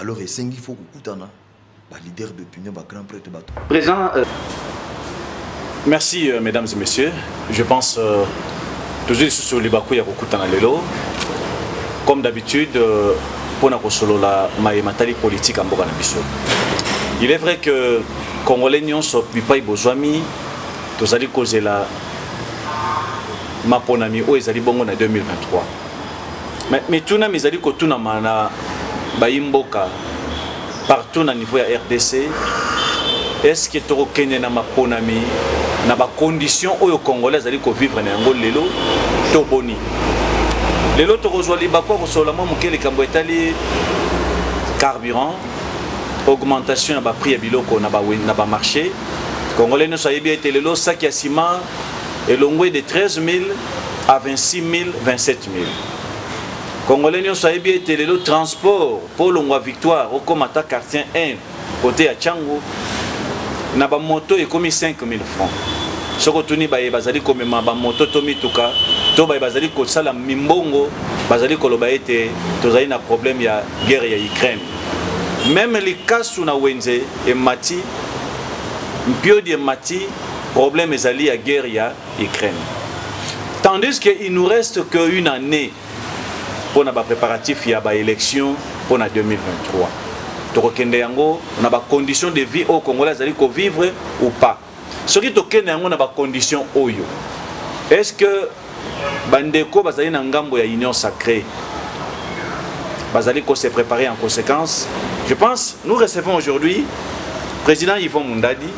Alors esengi faut kokutana ba leader d'opinion ba grand prêtre ba Présent euh... Merci euh, mesdames et messieurs. Je pense euh, tozwi lisusu libaku ya kokutana lelo comme d'habitude euh, mpo na kosolola maye matali politique ya mboka na biso il est vrai que congolais nyonso bipai bozwami tozali kozela maponami oyo ezali bongo na 2023 Mais mituna mizali kotunama na bayi mboka partout na niveau ya RDC est-ce que tokokende na maponami na ba conditions oyo congolais azali ko vivre na yango lelo to boni lelo tokozwa libaku ya kosolola mwa moke likambo etali carburant augmentation ya baprix ya biloko na bamarché congolais nyonso ayebi ete lelo saki ya sima elongwe de 13000 à 26000 27000 congolais nyonso ayebi ete lelo transport mpo olongwa victoire okoma ata quartier 1 kote ya changu na bamoto ekomi 5000 francs soki otuni baye bazali komema bamoto to mituka to baye bazali kosala mimbongo bazali koloba ete tozali na problème ya guerre ya ukraine meme likasu na wenze emati mpiodi emati Problème ezali ya guerre ya Ukraine. Tandis que il nous reste que une année pour na ba préparatifs ya ba élections pour na 2023. Tokokende yango na ba conditions de vie au Congolais azali ko vivre ou pas. Soki tokende yango na ba conditions oyo. Est-ce que bandeko bazali na ngambo ya union sacrée bazali ko se préparer en conséquence je pense nous recevons aujourd'hui président Yvon Mundadi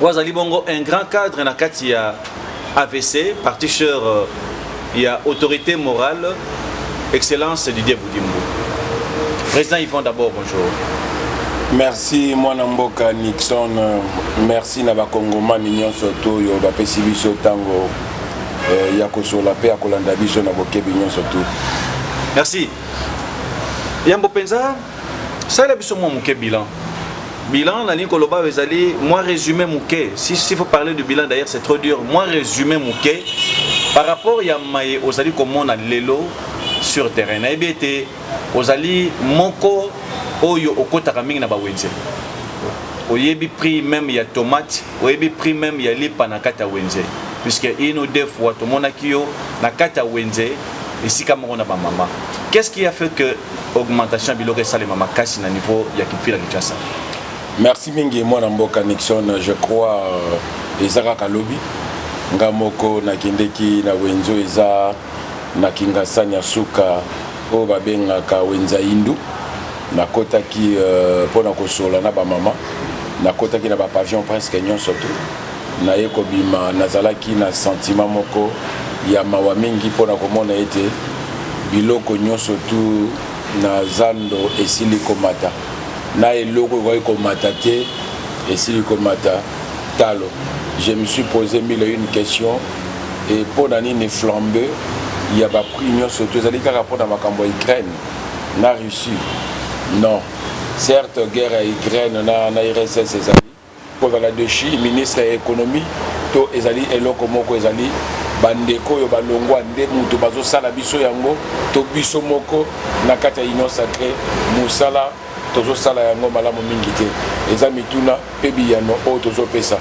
oyo azali bongo un grand cadre na kati ya avc parti sœur euh, ya autorité morale Excellence Didier Boudimbo. Président Yvon d'abord, bonjour. Merci mwana mboka Nixon, merci na bakongomani nyonso to oyo bapesi biso ntango eh, ya kosola mpe ya kolanda biso na bokebi nyonso tu. Merci. Yambo mpenza, salela biso mwa moke bilan Bilan nalingi koloba oyo ezali mwa résumé moke si si faut parler du bilan d'ailleurs c'est trop dur mwa résumé moke par rapport ya maye ozali komona lelo sur terrain nayebi ete ozali moko oyo okotaka mingi na bawenze oyebi prix meme ya tomate oyebi prix meme ya lipa na kati ya wenze puisque une ou deux fois tomonaki yo na kati ya wenze esika moko na bamama qu'est ce qui a fait que augmentation ya biloko esalema makasi na niveau ya kipfila kinshasa merci mingi mwana mboka nixon je crois euh, eza kaka lobi nga moko nakendeki na wenzo eza na kingasani ya suka oyo babengaka wenza hindu nakotaki euh, mpo na kosola na bamama nakotaki na bapavillon presque nyonso tout Naye kobima, nazalaki na sentiment moko ya mawa mingi mpo na komona ete biloko nyonso tout na zando esili komata, na eloko ekokaki komata te esili komata talo. Je me suis pose mille et une questions et mpo na nini flambe ya ba prix nyonso tout ezali kaka mpo na makambo ya Ukraine na Russie? Non, certes guerre ya Ukraine na, na RSS ezali Kozala dechi ministre ya economie to ezali eloko moko ezali bandeko oyo balongwa nde moto bazosala biso yango to biso moko na kati ya union sacre mosala tozosala yango malamu mingi te eza mituna mpe biyano oyo tozopesa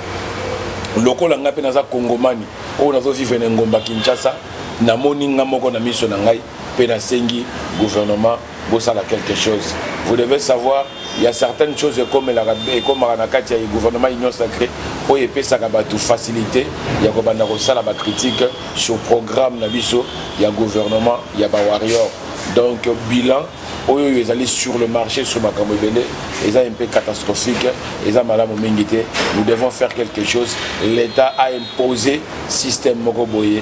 lokola ngai mpe naza kongomani oyo nazovivre na engomba kinshasa namoni ngai moko na miso na ngai mpe nasengi gouvernement bosala quelque chose vous devez savoir il y a certaines choses ekomelaka ekomaka na kati ya gouvernement union sacré oyo epesaka bato facilité ya kobanda kosala bacritique sur programme na biso ya gouvernement ya bawarrior donc bilan oyo oyo ezali sur le marché sur makambo ebele eza un peu catastrophique eza malamu mingi te nous devons faire quelque chose l'état a imposé système moko boye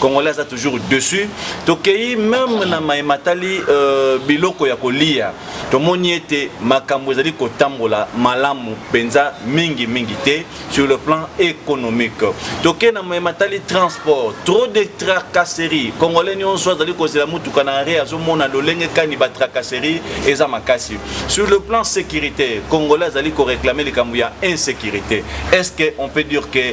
congolais aza toujours dessus tokeyi meme na maye matali euh, biloko ya kolia tomoni ete makambo ezali kotambola malamu mpenza mingi mingi te sur le plan économique toke na maye matali transport trop de tracasserie congolais nyonso azali kozela motuka na arre azomona lolenge kani batracasserie eza makasi sur le plan sécurité congolais azali koreklame likambo ya insécurité est ce que on peut dire que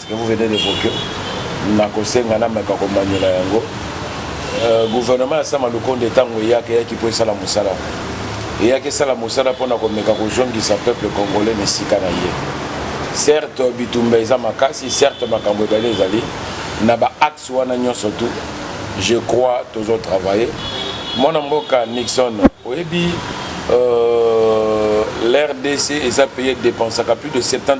que vous venez d'evoquer nakosenga nameka komanyola yango euh, gouvernement ya sama lukonde ntango eyaki eyaki mpo esala mosala eyaki esala mosala mpo na komeka kozongisa peuple congolais na esika na ye certes bitumba eza makasi certes makambo ebele ezali na baaxe wana nyonso tu je crois tozo travaille mwana mboka nixon oyebi euh, l'rdc eza paye dépensaka plus de 70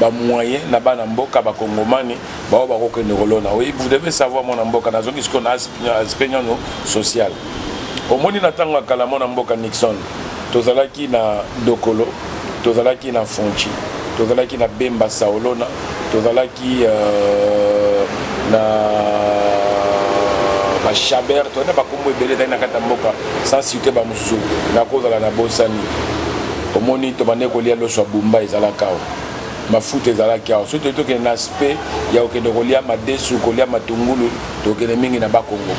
ba moyen na bana mboka ba kongomani ba oyo bako kende kolona oui vous devez savoir mwana mboka na zongi siko na aspect nyono social omoni na tango ya kala mwana mboka Nixon tozalaki na dokolo tozalaki na fonchi tozalaki na bemba saolona tozalaki euh, na bashaber tozalaki na bakombo ebele ezali na kati ya mboka sans site bamosusu nakozala na bosani Omoni tobandaki kolia loso ya bumba ezalaka awa mafuta ezalaki awa soki toyei tokende na aspect ya kokende kolia madesu kolia matungulu tokende mingi na bakongo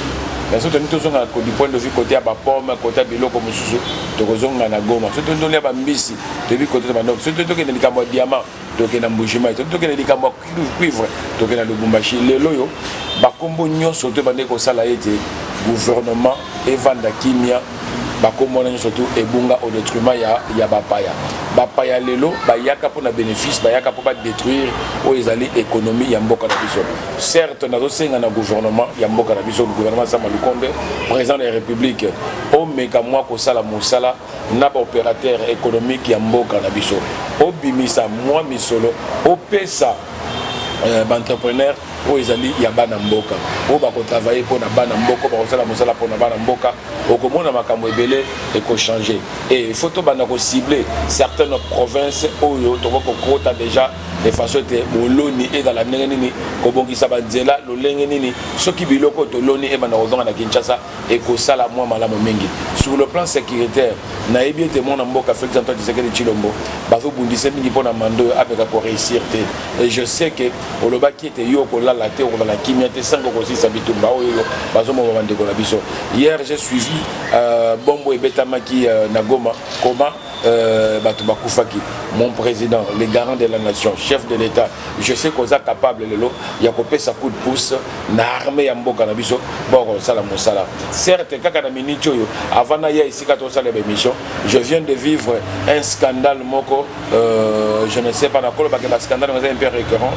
mais soki tolingi tozonga du point de vue kote ya bapome kote ya biloko mosusu tokozonga na goma soki tolingi tolia bambisi toyebi kote tobanda soki toyei tokende likambo ya diamant toke na mbujimai toki toke na likambo ya cuivre toke na lubumbashi lelo oyo bakombo nyonso to ebandaki kosala ete gouvernement evanda kimia bakombo wana nyonso tu ebunga au detriment ya, ya bapaya bapaya lelo bayaka mpo na bénéfice bayaka mpo badétruire oyo ezali économie ya mboka na biso certes nazosenga na gouvernement ya mboka na biso gouvernement sama lukonde président de la république omeka mwa kosala mosala na ba operateurs economiques ya mboka na biso, obimisa mua misolo opesa ba entrepreneurs oyo ezali ya bana mboka oyo bako travailler mpo na bana mboka bakosala mosala mpo na bana mboka okomona makambo ebele ekochange e il faut tobanda kocible certaines provinces oyo tokoki kokota déjà de façon ete boloni ezala ndenge nini kobongisa banzela lolenge nini soki biloko oyo toloni ebanda kozonga na kinshasa ekosala mwa malamu mingi sur le plan securitaire nayebi ete mwana mboka felix antoine tshisekedi tshilombo bazobundise mingi mpo na manda oyo ameka koreusir te et je sais que olobaki ete yo okolala te okozala kimia te sango okosilisa bitumba oyo oyo bazomoma bandeko na biso hier j'ai suivi euh, bombo ebetamaki euh, na goma koma Euh, bato bakufaki mon président le garant de la nation chef de l'état je sais koza capable lelo ya kopesa coup de pouce na armée ya mboka na biso bakosala mosala certes kaka na minute oyo avant naya esika tosala bémission je viens de vivre un scandale moko euh, je ne sais pas nakolobake bascandale oza un peu récurrent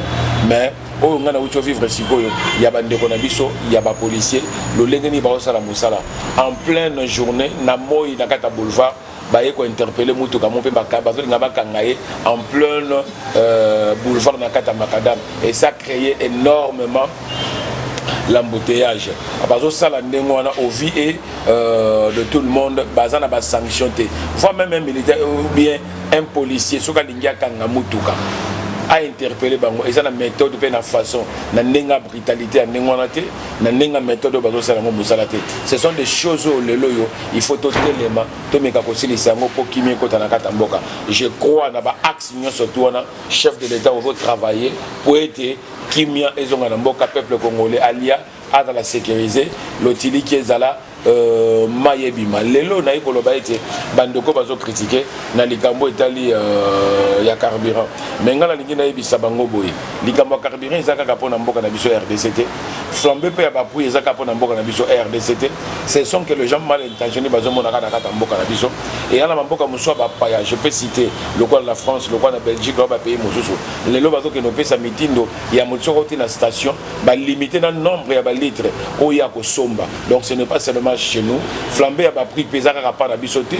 mais oyo ngai nauti ovivre sikoyo ya bandeko na biso ya bapolicier lolenge nini bakosala mosala en pleine journée na moi na kati ya boulevard baye ko interpeller mutuka mo mpe bazolinga bakanga ye en pleine euh, boulevard na kati ya macadam et ça crée énormément l'embouteillage bazosala ndenge wana au vie et euh, de tout le monde baza na basanction te voi même un militaire ou bien un policier soki alingi akanga mutuka ainterpele bango eza na méthode mpe na façon na ndenge ya brutalité ya ndenge wana te na ndenge ya methode oyo bazosala yango mosala te ce sont des choses oyo lelo oyo il faut totelema tomeka kosilisa yango mpo kimi ekota na kati ya mboka je crois na baaxe nyonso tu wana chef de l'état ozo travailler mpo ete kimia ezonga na mboka peuple congolais alia azala sécurise lotiliki ezala Euh, mai ebima lelo naye koloba ete bandeko bazo kritike na likambo etali euh, ya carburant me ngai nalingi nayebisa bango boye likambo ya carburant eza kaka mpo na mboka na biso ya rdc te flambe mpe ya baprix eza kaka mpo na mboka na biso rdc te ce sont que le gens mal intentionné bazomonaka na kati ya mboka na biso eya na bamboka mosusu ya bapaya je peux citer lokola na france lokola na belgique lokola bapays mosusu lelo bazokende kopesa mitindo ya motisoko te na station ba limiter na nombre ya ba litre oyo ya kosomba donc ce n'est pas seulement chez nous flambe ya ba prix peza kaka pa na biso te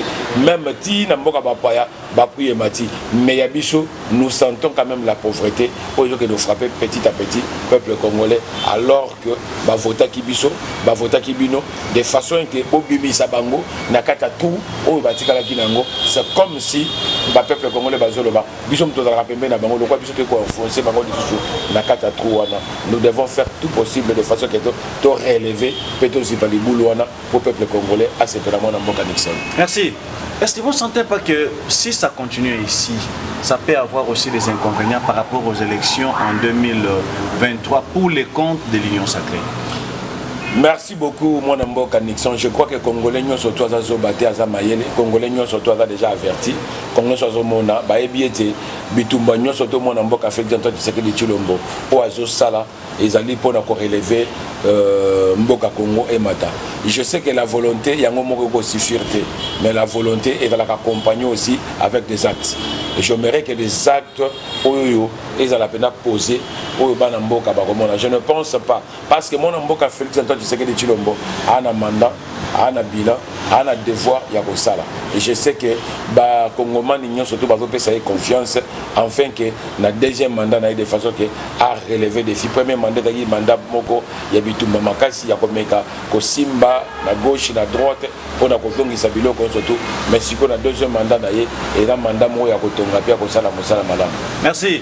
même ti na mboka ba paya ba prix et mati mais ya biso nous sentons quand même la pauvreté oyo que nous frapper petit à petit peuple congolais alors que ba vota ki biso ba vota ki bino de façon que obimisa bango na kata tout oyo batikala ki nango c'est comme si ba peuple congolais bazoloba biso moto tozalaka pembeni na bango lokola biso toyei koenfonce bango lisusu na kati ya trou wana nous devons faire tout possible de façon ke to relever mpe tozipa libulu wana mpo peuple congolais asepela mwana mboka nixon merci est ce que vous ne sentez pas que si ça continue ici ça peut avoir aussi des inconvénients par rapport aux élections en 2023 pour les comptes de l'union sacrée merci Merci beaucoup mwana mboka Nixon. Je crois que Congolais nyonso to aza zoba te aza mayele. Congolais nyonso to aza déjà averti. Congolais nyonso azomona bayebi ete bitumba nyonso to mwana mboka Afrique Antoine Tshisekedi Tshilombo oyo azosala ezali mpo na koreleve euh, mboka Congo emata. Je sais que la volonté yango moko ekosuffire te mais la volonté ezalaka accompagnée aussi avec des actes. Et j'aimerais que les actes oyo ezala mpenza posé oyo bana mboka bakomona. Je ne pense pas Parce que mwana mboka Felix Antoine Tshisekedi Tshilombo a na mandat, a na bilan, a na devoir ya kosala. Et je sais que ba congomani nyonso to bazopesa ye confiance enfin que na deuxième mandat na ye de façon que a relever défi. Premier mandat ezalaki mandat moko ya bitumba makasi ya komeka kosimba na gauche na droite mpo na kozongisa biloko nyonso tu mais sikoyo na deuxième mandat na ye eza mandat moko ya kotonga mpe ya kosala mosala malamu. Merci.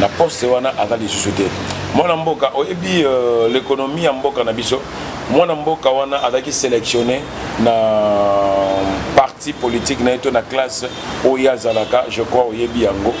na poste wana aza lisusu te mwana mboka oyebi euh, l'économie ya mboka na biso mwana mboka wana azalaki sélectionné na parti politique na ye to na classe oyo azalaka je crois oyebi yango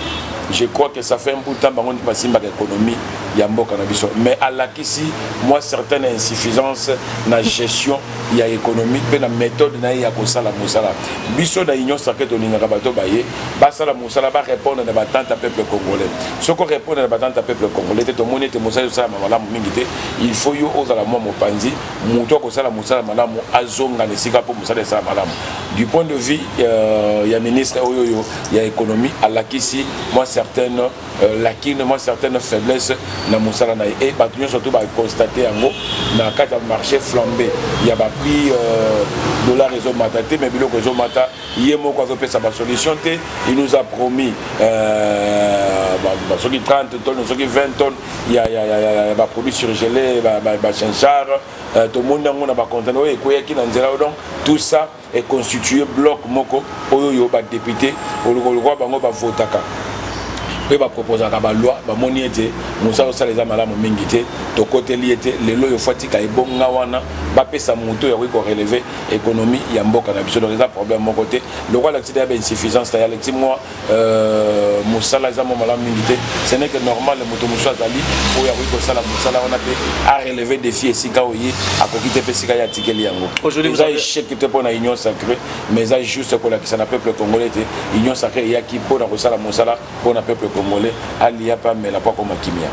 je crois que ça fait un bout de temps bango nde basimbaka économie ya mboka na biso mais alakisi mwa certaine insuffisance na gestion ya economique mpe na methode na ye ya kosala mosala biso na union sacre tolingaka bato baye basala mosala barépondre na batante ya peuple congolais soki orépondre na batante ya peuple congolais te tomoni ete mosala ezosalama malamu mingi te il faut yo ozala mwa mopanzi moto akosala mosala malamu azonga na esika mpo mosala esala malamu du point de vue euh, ya ministre oyo oyo ya économie alakisi mwa certaine Euh, lakini mwa certaine faiblesse na mosala na ye e bato nyonso to baconstate yango na kati ya marché flambe ya baprix euh, dollar ezomata te mai biloko ezomata ye moko azopesa basolution te il nous a promis euh, soki 30 tonnes soki 20 tonnes ya baproduit surgelé bachinchar tomoni yango na bacontener oyo ekweyaki na nzela donc tout ça e constituer bloc moko oyo yo ba depute oloko lokwa bango ba votaka mpe ba proposaka ba loi bamoni ete mosala osala eza malamu mingi te tokoteli ye te lelo oyo fatika ebonga wana bapesa moto oyo akoki koreleve ekonomi ya mboka na biso donc eza problème moko te lokola alakisi deya ba insuffisance ta ya alakisi mwa Euh, mosala eza mwa malamu mingi te ce n'est que normal moto mosusu azali oyo akoki kosala mosala wana mpe areleve défi esika oye akoki te mpe esika ye atikeli yango eza échec te mpo na union sacré mais eza juste kolakisa na peuple congolais te union sacré eyaki mpo na kosala mosala mpo na peuple congolais aliya mpe amela mpo akoma kimia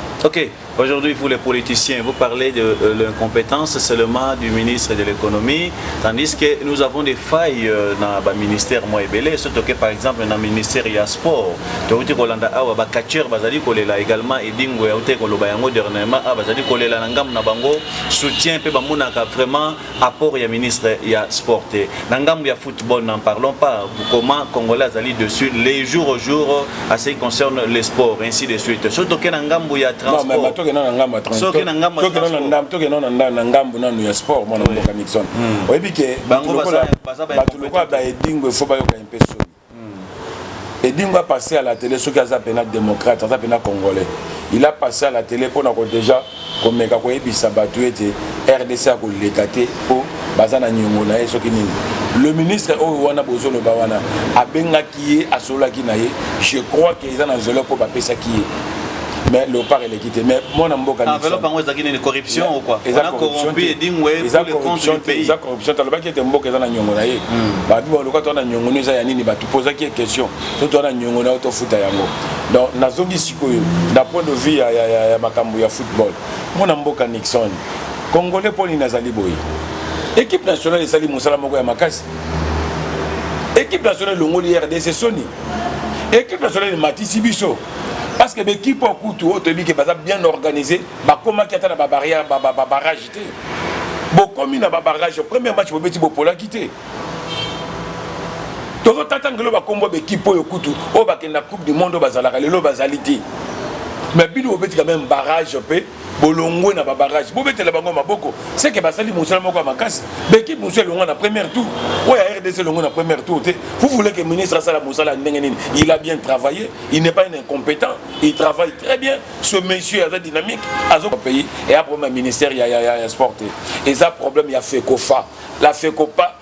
Aujourd'hui, vous les politiciens, vous parlez de euh, l'incompétence seulement du ministre de l'économie, tandis que nous avons des failles euh, dans le ministère moi belé, surtout que par exemple dans le ministère du sport, Tawuti Kolanda Awa, ba catcheur bazali kolela également Edingo Yaute Koloba Yango dernièrement, ah, bazali kolela na ngam na bango, soutien pe bamonaka vraiment apport ya ministre ya sport te na ngambo ya football n'en parlons pas comment congolais azali dessus les jours au jour à ce qui concerne le sport ainsi de suite soki toke na ngambo ya transportsoki na ngambo na ngambo nanu ya sport mwana mboka nixon oyebi ke bato lokola baedingo efo bayokani mpe soni Edingwe a passe à la tele soki aza pena democrate aza pena congolais il a passe à la tele mpo na ko deja komeka koyebisa bato ete rdc akoleka te mpo baza na niongo na ye soki nini le ministre oyo wana bozoloba wana abengaki ye asololaki na ye je crois ke eza na nzela mpo bapesaki ye mais leopard eleki te mais mwana mboka ah, enveloppe yango ezalaki nini corruption ou quoi eza corruption edingwe eza corruption te eza corruption te alobaki ete mboka eza na nyongo na ye hmm. babi baloka to na nyongo no eza ya nini bato pozaki ye question so to na nyongo na yo tofuta yango donc nazongi sikoyo na point de vue ya, ya, ya, ya makambo ya football mwana mboka nixon congolais mpo nini azali boye équipe nationale esali mosala moko ya makasi équipe nationale elongoli rdc soni équipe nationale ematisi biso parce que baekipe oyo kutu oyo toyebi ke baza bien organisé bakomaki ata na babarrière babarrage te bokomi na babarrage premier match bobeti bopolaki te tozotata ngelo bakombo baekipe oyo kutu oyo bakenda coupe du monde oyo bazalaka lelo bazali te mais bino bobeti quand même barrage mpe bolongwe na babarage bobetela bango maboko seke basali mosala moko ya makasi bekipe mosusu elongwa na première tour oyo ya rdc elongwe na première tour te vous voulez que ministre asala mosala ya ndenge nini il a bien travaillé il n'est pas un incompétent il travaille très bien ce monsieur aza dynamique azo pays et a problème ya ministère ya, ya, ya, ya sport te eza problème ya fekofa la fekopa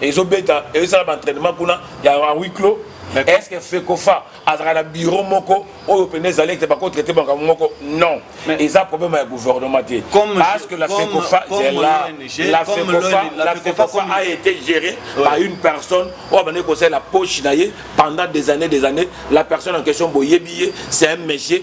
ezobeta ezosala baentrainement kuna ya huis clos est ce que fekofa azalaka na bureau moko oyo mpena ezali ete bakotraite makambo moko non eza problème ya gouvernement te parce que la fekofa zela la fekofa la fekofa a été géré par une personne oyo abandaki kosalela poche na ye pendant des années des années la personne en question boyebi ye c'est un monsieur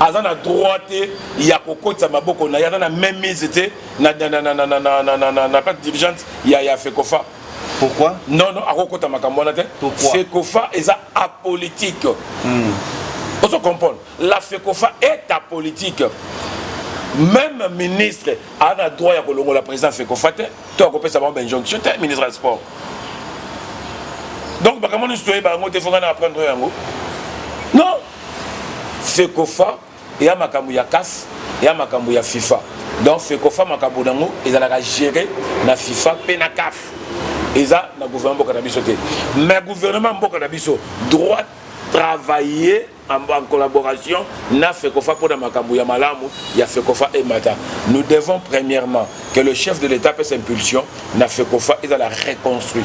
aza na droit te ya kokotisa maboko na ye aza na même mise te na plate dirigeante ya, ya fecofa pourquoi non non akokota makambo wana te fecofa eza apolitique mm. ozo comprendre la fecofa est apolitique même ministre aza na droit ya kolongola président fecofa te to akopesa bango bainjonction te ministre ya sport donc makambo nyonso toyeba yango te fo ngai na apprendre yango non Fecofa eya makambo ya CAF, eya makambo ya FIFA. Donc Fecofa makambo nango ezalaka gérer na FIFA pe na CAF. Eza na gouvernement mboka na biso te. Mais gouvernement mboka na biso droit travailler en, en collaboration na FECOFA pour makambo ya malamu ya FECOFA et Mata. Nous devons premièrement que le chef de l'État pèse impulsion na FECOFA et la reconstruire.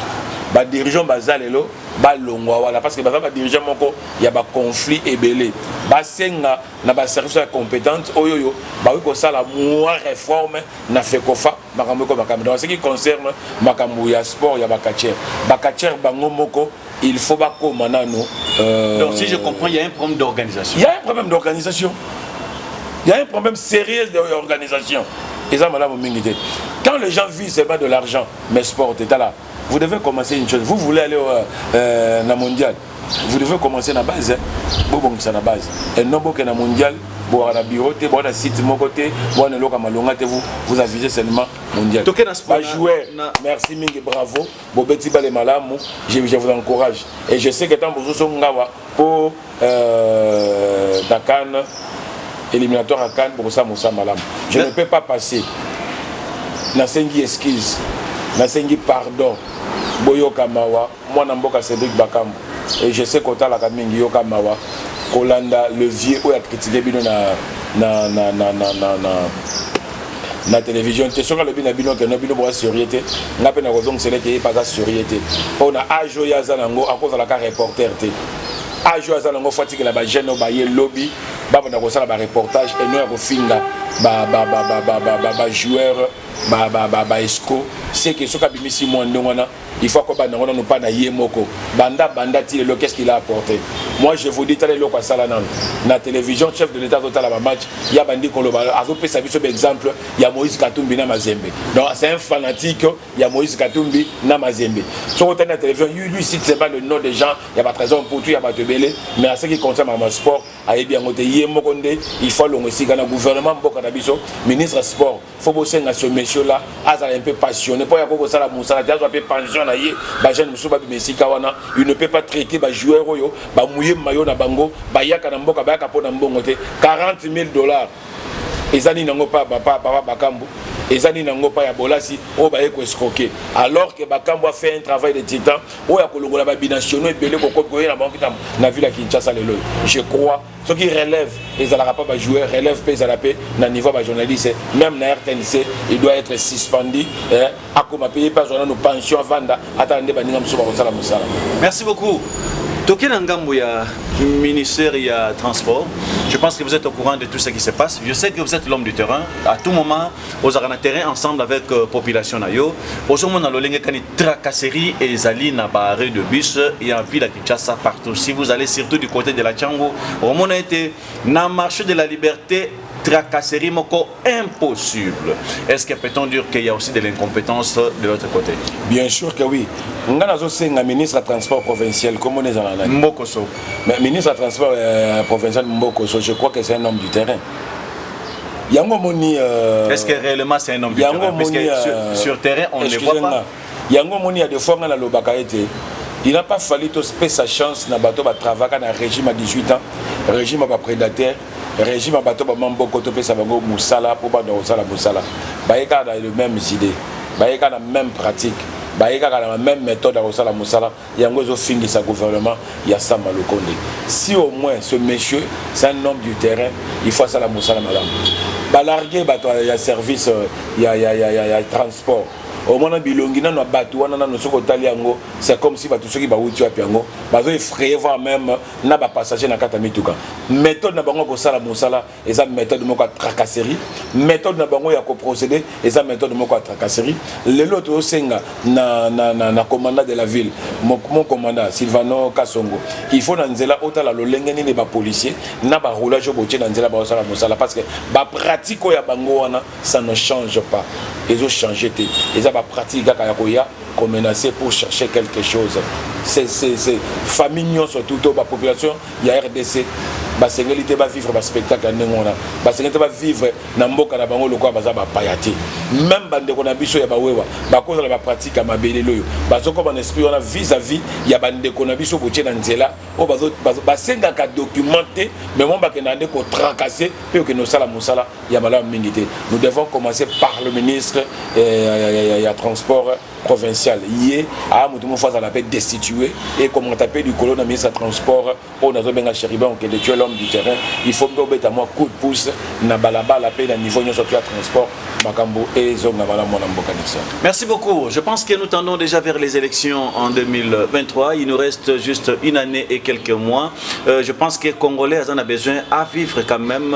Ba dirigeants bazalelo balongwa wana parce que baza ba dirigeant moko ya ba conflit ebele basenga na ba service ya compétente oyo oyo bakoki kosala mwa réforme na fekofa makambo eko makambo donc ce qui concerne makambo ya sport ya bacatcher bacatcher bango moko il faut bakoma nano euh... donc si je comprends il y a un problème d'organisation il y a un problème d'organisation il y a un problème sérieux d'organisation eza malamu mingi te quand les gens vivent seulement de l'argent mais sport etala vous devez commencer une chose vous voulez aller euh, euh, na mondial vous devez commencer na base bobongisa na base et non boke na mondial boaka na bureau te boaka na site moko te boaka na eloko ya malonga te vous vous avisez seulement mondial toke na sport joueur merci mingi bravo bobeti bale malamu je, je vous encourage et je sais que tant bozoso ngawa po euh, na Cannes éliminatoire à Cannes bokosala mosala malamu je ne peux pas passer nasengi excuse nasengi pardon boyoka mawa mwana mboka Cédric Bakambu et je sais kotalaka mingi yoka mawa kolanda le vieux oyo akritike bino na na na na na na, na na télévision te soki alobi na bino ke no bino boa surie te ngai mpe nakozongisela ete ye mpe aza surie te mpo na age oyo aza na yango akozalaka reporter te age oyo aza nango fo atikela bajeune oyo baye lobi babanda kosala bareportage eno ya kofinga bajoueur baesco seke soki abimisi mwa ndenge wana il faut akoba nango nano mpa na ye moko banda banda ti lelo qu'est ce qu'il a apporté moi je vous dis tala eloko asala nano na télévision chef de l'état azotala bamatch ya bandi koloba azopesa biso baexemple ya moïse katumbi na mazembe donc c'est un fanatique ya Moïse Katumbi na Mazembe. Soki otali na télévision, lui, lui cite seulement le nom des gens, il y a ba trésor Mputu, il y a bato ebele, mais à ce qui concerne ma sport, ayebi yango te ye moko nde il faut alongo esika na gouvernement mboka na biso, ministre sport, faut bosenga ce monsieur là azala un peu passionné mpo ya ko kosala mosala te azwa mpe pension na ye ba jeune mosusu babima esika wana il ne peut pas traiter ba joueur oyo bamouye mayo na bango bayaka na mboka bayaka mpo na mbongo te 40 000 dollars eza nini yango pa papa papa bakambu eza nini yango pa ya bolasi oyo baye ko escroquer alors que bakambu a fait un travail de titan oyo akolongola ba binationaux ebele kokobi koyela bango kitambo na ville ya Kinshasa lelo je crois soki relève ezalaka pa ba joueur relève pe ezala pe na niveau ya ba journaliste même na RTNC il doit être suspendu eh, akoma mpe ye mpe azwa nano pension avanda atala nde baninga mosusu bakosala mosala merci beaucoup toke na ngambo ya ministère ya transport je pense que vous êtes au courant de tout ce qui se passe je sais que vous êtes l'homme du terrain à tout moment ozalaka na terrain ensemble avec euh, population na yo ozomona lolenge kani tracasserie ezali na baarrêt de bus ya ville ya kinshasa partout si vous allez surtout du côté de la chango omona ete na marché de la liberté tracasserie moko impossible. Est-ce que peut-on dire qu'il y a aussi de l'incompétence de l'autre côté Bien sûr que oui. nga nazosenga ministre ya transport provincial kombo na ezala nani mbokoso mais ministre ya transport euh, provincial mbokoso je crois que c'est un homme du terrain yango omoni euh, est ce que réellement c'est un homme du terrain parce que euh, sur, sur terrain on ne voit pas yango omoni ya de fois nga nalobaka ete il n'a pas fallu tospesa chance na bato batravaka na régime ya 18 ans régime ya baprédataire regime ya bato bama mboko topesa bango mosala mpo banda kosala mosala baye kaka na le même idée baye kaka na même pratique baye kaka na même méthode ya kosala mosala yango ezofingisa gouvernement ya sama lokonde si au moins ce monsieur c'est un homme du terrain il faut asala mosala malamu balarge bato ya service euh, ya, ya, ya, ya, ya transport omona bilongi nano ya bato wana nano soki otali yango c'est comme si bato soki bawuti wapi yango bazo effraye voir même na ba passagers na kati ya mituka methode na bango ya kosala mosala eza methode moko ya tracasserie methode na bango ya koprocede eza methode moko ya tracasserie lelo tozosenga na, na, na, na commandant de la ville mon, mon commandant silvano kasongo il faut na nzela otala lolenge nini bapolicier na baroulage oyo botie na nzela baosala mosala parce que bapratique oyo ya bango wana ça ne change pas ezochange te eza bapratique kaka ya koya ko menacer pour chercher quelque chose c'est c'est c'est famille nyonso tout to ba population ya RDC basengeli te bavivre baspectacle ya ndenge wana basengeli te bavivre na mboka na bango lokola baza bapaya te meme bandeko na biso ya bawewa bakozala bapratique ya mabe lelo oyo bazokoma na esprit wana vis à vis ya bandeko na biso botie na nzela oyo basengaka document te mais mwa bakendaka nde kotracase mpe okende osala mosala ya malamu mingi te nous devons commencer par le ministre eh, ya transport provincial ye aa moto moko azala mpe destitue ekomata mpe likolo na ministre ya transport oyo nazobenga chéribin okende tu es l'homme du terrain il faut mpe obeta mwa coup de pouce na balabala mpe na niveau nyonso tu ya transport makambo ezonga malamu mwana mboka nixon merci beaucoup je pense que nous tendons déjà vers les élections en 2023 il nous reste juste une année et quelques mois euh, je pense que congolais aza na besoin à vivre quand même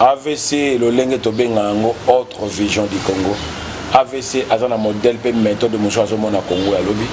avc lolenge tobenga yango autre vision du congo avc aza na modèle mpe méthode mosusu azomona congo ya lobi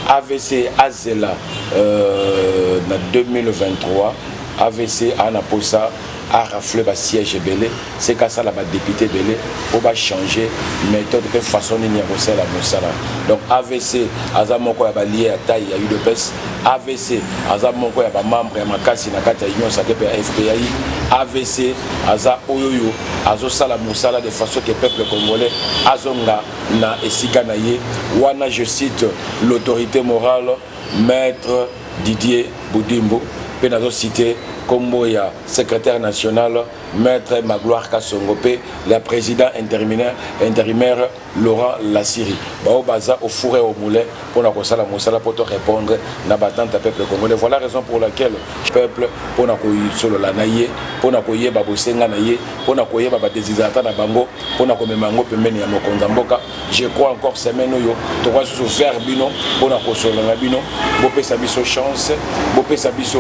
avc azela euh, na 2023 avc aa na mposa arafle basiège ebele seke asala badepute ebele mpo bachange méthode mpe façon nini ya kosala mosala donc avc aza moko ya balie ya tai ya udps Avc aza moko ya ba membres ya makasi na kati ya Union Sacree pe ya FPI. Avc aza oyoyo azosala musala de façon que peuple congolais azonga na esika na ye. Wana je cite l'autorité morale maître Didier Budimbu pe nazo citer kombo ya secrétaire national maître Magloire Kasongo pe la président intérimaire intérimaire Laurent Lasiri baoyo baza au four et au moulin mpo na kosala mosala mpo to répondre na batante ya peuple congolais voilà raison pour laquelle peuple mpo na kosolola na ye mpo na koyeba bosenga na ye mpo na koyeba badesiderata na bango mpo na komema yango pembeni ya mokonzi ya mboka je crois encore semaine oyo tokoki susu vers bino mpo na kosolola na bino bopesa biso chance bopesa biso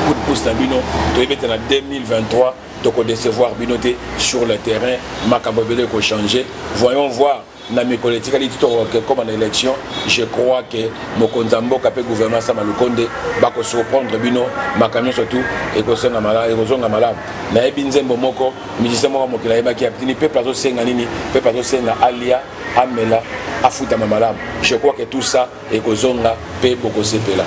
coup de pouce na bino toyebi ete na 2023 toko decevoir bino te sur le terrain makambo ebele eko changer voyons voir na mikolo etikali ti tokokoma na élection je crois que mokonzi ya mboka mpe gouvernement sama lukonde bakosurprendre bino makambo nyonso tu ekozonga malamu nayebi nzembo moko musicien moko mokili ayebaki abtini peuple azosenga nini peuple azosenga alia amela afutama malamu je crois que tout ça ekozonga pe bokosepela.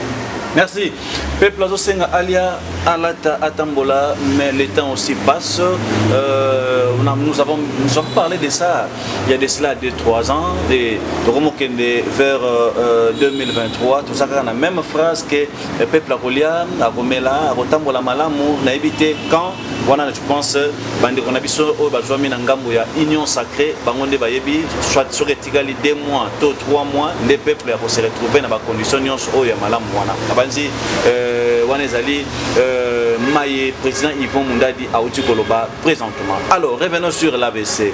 Merci. Peuple azosenga alia alata atambola mais le temps aussi passe. Euh, on a, nous avons nous avons parlé de ça il y a de cela 2 3 ans et tokomokende vers euh, 2023 euh, tozaka kaka na même phrase que euh, peuple akolia akomela akotambola malamu nayebi te quand wana je pense bandeko na biso oyo bazwami na ngambo ya union sacrée bango nde bayebi soit soki etikali deux mois to trois mois nde peuple ya kose retrouver na bacondition nyonso oyo ya malamu wana nabanzi euh, wana ezali euh, maye président yvon mundadi auti koloba présentement alors revenons sur l'abc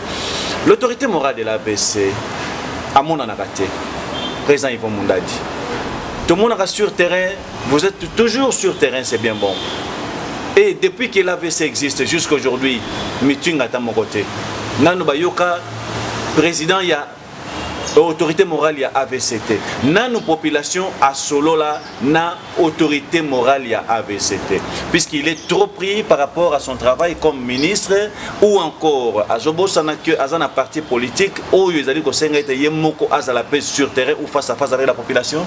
l'autorité morale de l'abc amonanaka te président yvon mundadi tomonaka sur terrain vous êtes toujours sur terrain c'est bien bon et depuis que l'avc existe jusqu'aujourd'hui meeting ata moko te nanu bayoka president ya autorité morale ya avc te nanu population asolola na autorité morale ya avc te puisqu'il est trop pris par rapport à son travail comme ministre ou encore azobosana que aza na parti politique oyo ezali kosenga ete ye moko azala mpe sur terrain ou face à face avec la population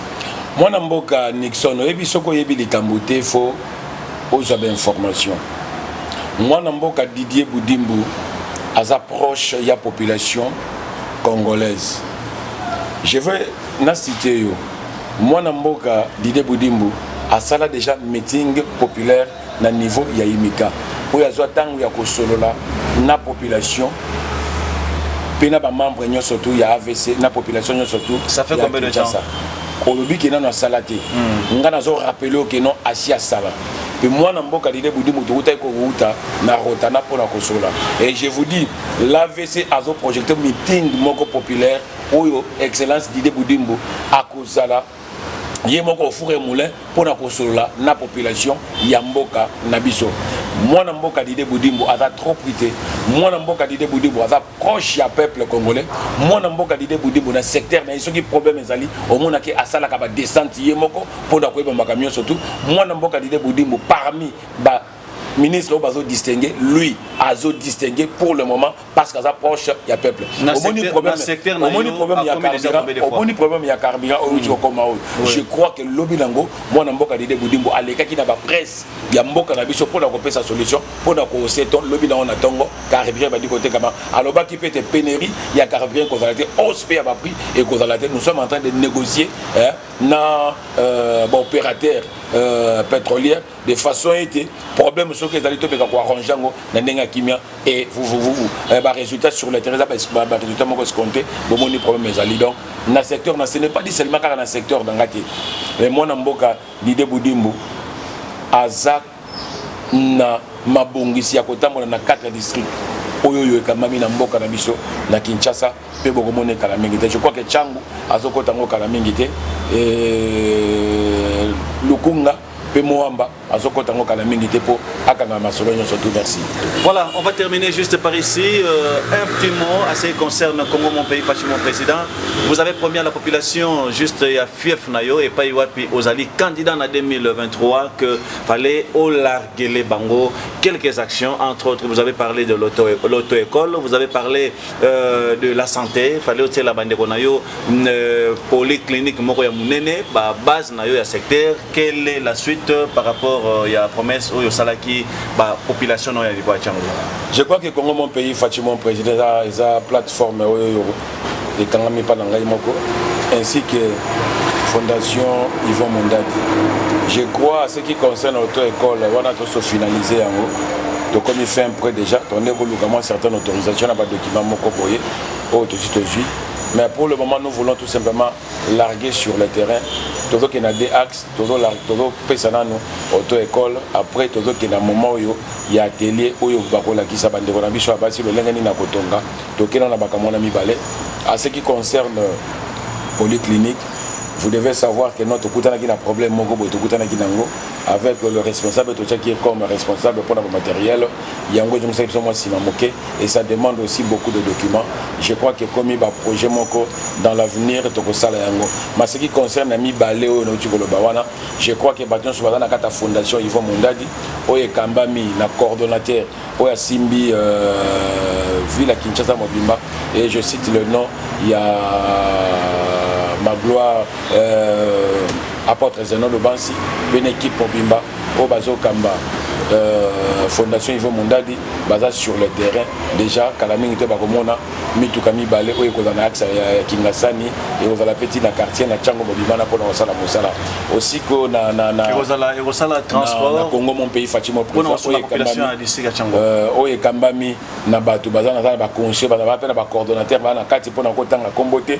mwana mboka nixon oyebi soki oyebi likambo te fo Ozwa ba information. Mwana mboka Didier Budimbu aza proche ya population congolaise. Je veux na citer yo. Mwana mboka Didier Budimbu asala déjà meeting populaire na niveau ya Imika. Oyo azwa tango ya kosolola na population mpe na ba membres nyonso tout ya AVC na population nyonso tout. Ça fait combien de temps? olobi ke nano asala te mm. nga nazo rappele yo ke non asi asala mpe mwana mboka lide budi moto okutaki kowuta na rotana mpo na kosola et je vous dis l'avc azo projecte meeting moko populaire oyo excellence dide budimbu akozala ye moko ofure moulin mpo na kosolola na population ya mboka na biso mwana mboka dide budimbu aza trop prite mwana mboka dide budimbu aza proche ya peuple congolais mwana mboka dide budibu na secteur na ye soki problème ezali omonaki asalaka ba descente ye moko mpo na koyeba makambo nyonso tu mwana mboka dide budimbu parmi ba ministre oyo bazo distingue lui azo distingue pour le moment parce qu'aza proche ya peuple omoni problèmeomoni problème ya carburant omoni problème ya carburant oyo outi kokoma oyo je crois que lobi nango mwana mboka dide budimbu alekaki na bapresse ya mboka na biso mpo na kopesa solution mpo na koose to lobi na yango na ntongo carburant ebandi kotekama alobaki mpe ete penerie ya carburant ekozala te hausse mpe ya baprix ekozala te nous sommes en train de négocier eh, na euh, baopérateur euh, pétrolière de façon ete problème soki ezali tobeka koarrange yango na ndenge ya kimia e vuvuvuvu eh, barésultat sur le terrain eza barésultat moko escompte bomoni problème ezali donc na secteur na ce n'est pas dit seulement kaka na secteur na nga te mais mwana mboka lide budimbu aza na mabongisi ya kotambola na 4 districts oyo oyo ekambami na mboka na biso na Kinshasa mpe bokomona ekala mingi te je crois que Changu azokota yango kala mingi te eh, Lukunga mpe Moamba azokota yango kala mingi te mpo akanga masolo nyonso tout merci voilà on va terminer juste par ici euh, un petit mot à ce qui concerne Congo mon pays Fachi mon président vous avez promis à la population juste ya fief na yo epai wapi ozali candidat na 2023 que fallait olarguele bango quelques actions entre autres vous avez parlé de l'auto-école vous avez parlé euh, de la santé fallait otiela bandeko na yo euh, polyclinique moko ya monene ba base na yo ya secteur quelle est la suite par rapport euh, ya promesse oyo osalaki ba population na yo ya livoa ya cango je crois que congo mon pays faci mon président eza plateforme oyo ekangami epai na ngai moko ainsi que fondation yvon mondadi je crois ce qui concerne auto école wana toso finalise yango tokomi fin près déjà tonde koluka mwa certaine autorisation na badocument moko boye oyo tosi tozwi mais pour le moment nous voulons tout simplement larguer sur le terrain tozokende na deux axe tozopesa nano auto école après tozokende na moment oyo ya atelier oyo bakolakisa bandeko na biso ya basi lolenge nini na kotonga Tokela na makambo wana mibale. A ce qui concerne polyclinique, vous devez savoir que non tokutanaki na problème moko boye tokutanaki nango avec le responsable totiaki ye comme responsable mpona bamateriel yango ezongisaki biso mwa nsima moke et ça demande aussi beaucoup de documents je crois que ekomi baprojet moko dans l'avenir tokosala yango ma ce qui concerne mibale oyo nauti koloba wana je crois que bato nyonso baza na kati ya fondation ivo mondadi oyo ekambami na coordonnateur oyo asimbi euh, ville ya kinshasa mobimba et je cite le nom ya magloire euh, apôtre zenon lobansi mpe na équipe mobimba oyo bazokamba euh, fondation ivo mondadi baza sur le terrain déjà kala mingi te bakomona mituka mibale oyo ekozala na axe ya kingasani ekozala mpe ti na quartier na ntango mobimana mpona kosala mosala osiko na, na, na, ekozala ekosala transport na, na congo mon pays fatimo euh, oyo ekambami na bato baza naza na baconscient baza mpe na bacoordonnateur baa na kati mpona kotanga nkombo te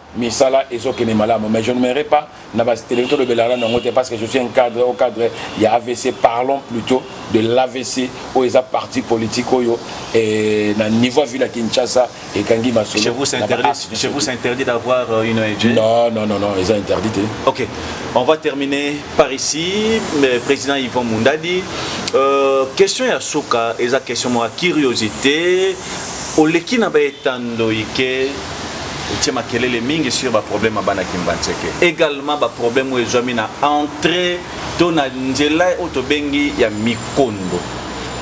Misala ezo kende malamu mais je ne me re pas na ba telemi to lobela na nango te parce que je suis un cadre au cadre ya AVC parlons plutôt de l'AVC oyo eza parti politique oyo eh, na niveau ville ya Kinshasa ekangi masolo. Chez vous c'est interdit, chez vous c'est interdit d'avoir euh, une ONG. Non non non non, eza interdit te. OK. On va terminer par ici mais président Yvon Mundadi euh, question ya suka eza question mwa curiosité oleki na ba etando ike otie makelele mingi sur baproblème ya bana kimbanseke également baproblème oyo ezwami na entrée to na nzela oyo tobengi ya mikondo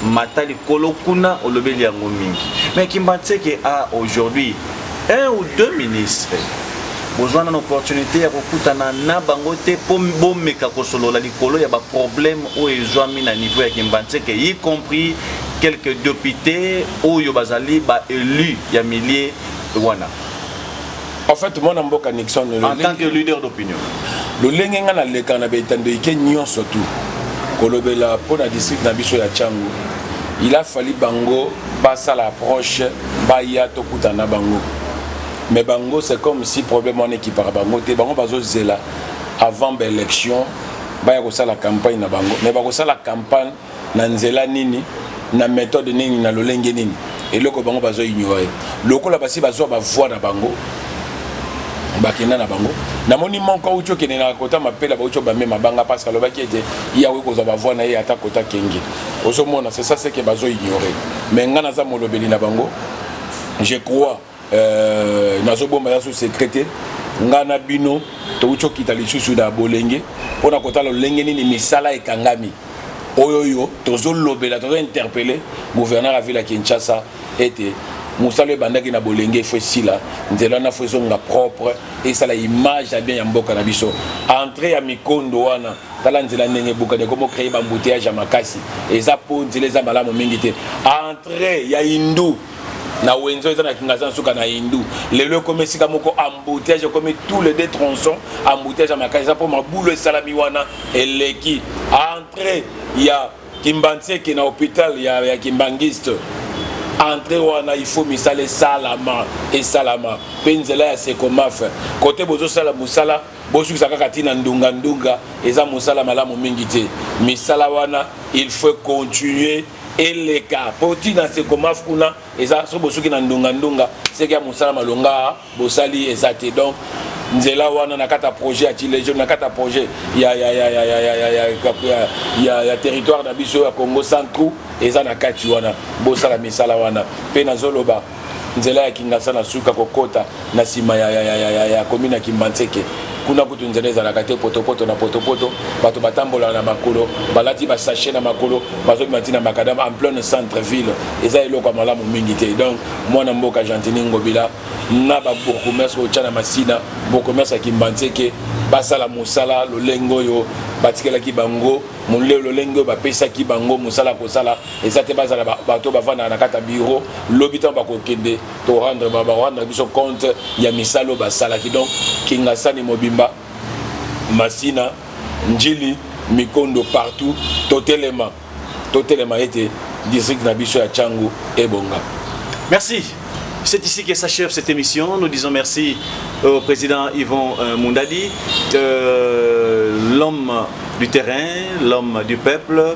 mata likolo kuna olobeli yango mingi mais kimbanseke a aujourd'hui un ou deux ministres bozwa nano opportunité ya kokutana na bango te mpo bomeka kosolola likolo ya baproblème oyo ezwami na niveau ya kimbanseke y compris quelques députés oyo bazali baélus ya milieu wana en fait mwana mboka nixon en tant que leader d'opinion lolenge ngai naleka na baetandoike nyonso tu kolobela mpo na district na biso ya changu il a fallu bango basala approche baya tokutana na bango mais bango c'est comme si problème wana ekipaka bango te bango bazozela avant baélection baya kosala campagne na bango mais bakosala campagne na nzela nini na methode nini na lolenge nini eloko bango bazo ignore lokola basi bazwa bavoi na bango bakenda na bango namoni moko auti okende na kota mapela bauti obambe mabanga parce alobaki ete ye akoki kozwa bavoi na ye ata kota kenge ozomona c'est ça seke bazo ignore mais ngai naza molobeli na bango je crois Euh, nazobomba ya so secret te ngai na bino touti okita lisusu na bolenge mpo na kotala lolenge nini misala ekangami oyo oyo tozolobela tozointerpele gouverneur ya ville ya kinshasa ete mosala ebandaki na bolenge efo esila nzela wana fo ezonga propre esala image ya bien ya mboka na biso entre ya mikondo wana tala nzela ndenge ebukani ekomi okreye bambuteyage ya makasi eza mpo nzela eza malamu mingi te entre ya hindu na wenzo eza na kingaza na suka na hindu lelo ekomi esika moko embouteillage ekomi tous les deux tronçons embouteillage ya makasi eza mpo mabulu esalami wana eleki entrée ya kimbanseke na hôpital ya, ya kimbangiste entre wana ifo misala esalama esalama mpe nzela ya sekomafe kote bozosala mosala bosukisa kaka ntina ndunga ndunga eza mosala malamu mingi te misala wana il faut continuer eleka po ti na sekomaf kuna eza soki bosuki na ndunga-ndunga seke ya mosala malonga bosali eza te donc nzela wana na kati ya projet ya tilejo na kati ya projet ya, ya, ya, ya, ya, ya, ya, ya, ya, ya, ya territoire na biso ya congo centrou eza na kati wana bosala misala wana mpe nazoloba nzela ya kingasa na suka kokota na nsima ya, ya, ya, ya, ya, ya komina kimbanseke kuna kutu nzela ezalaka te potopoto na potopoto bato batambolaka na makolo balati basashe na makolo bazobima ntina makadama en pleine centre ville eza eloko ya malamu mingi te donc mwana mboka gentini ngobila na babourgmestre oyo tya na masina bourgmestre ya kimbanseke basala mosala lolenge oyo batikelaki bango lolenge oyo bapesaki bango mosala kosala eza te bazala bato bavandaka na kati ya bureau lobi ntango bakokende torendre barendre biso compte ya misala oyo basalaki donc kingasani mobimba masina njili mikondo partout totelema totelema ete district na biso ya changu ebonga merci C'est ici que s'achève cette émission. Nous disons merci au président Yvon euh, Moundadi, euh, l'homme du terrain, l'homme du peuple,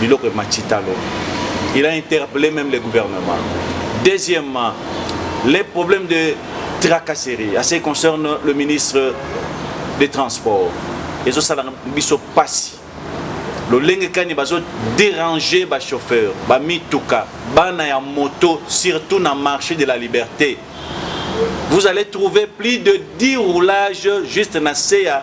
biloko emati talo il a interpellé même le gouvernement deuxièmement les problèmes de tracasserie à ce qui concerne le ministre des transports ezosala biso mpasi lolenge kani bazo déranger bachauffeur bamituka bana ya moto surtout na marché de la liberté vous allez trouver plus de 10 roulages juste na se ya